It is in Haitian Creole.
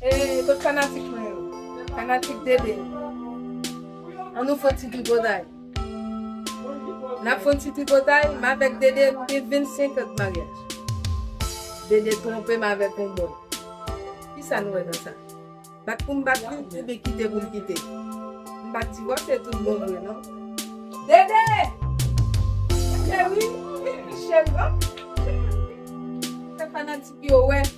E kot fanatik mwen yo? Fanatik Dede. An nou fon ti tripotay. Nap fon ti tripotay, m avèk Dede nou gen 25 an d'maryaj. Dede twonpe m avèk yon bòy. Kisa nou wè nan sa? Bat pou m bat li oubyen kite pou m kite? M pa ti wòch e tout bon vre non. Dede! Cheri! Cheri! Fè fanatik yo wè.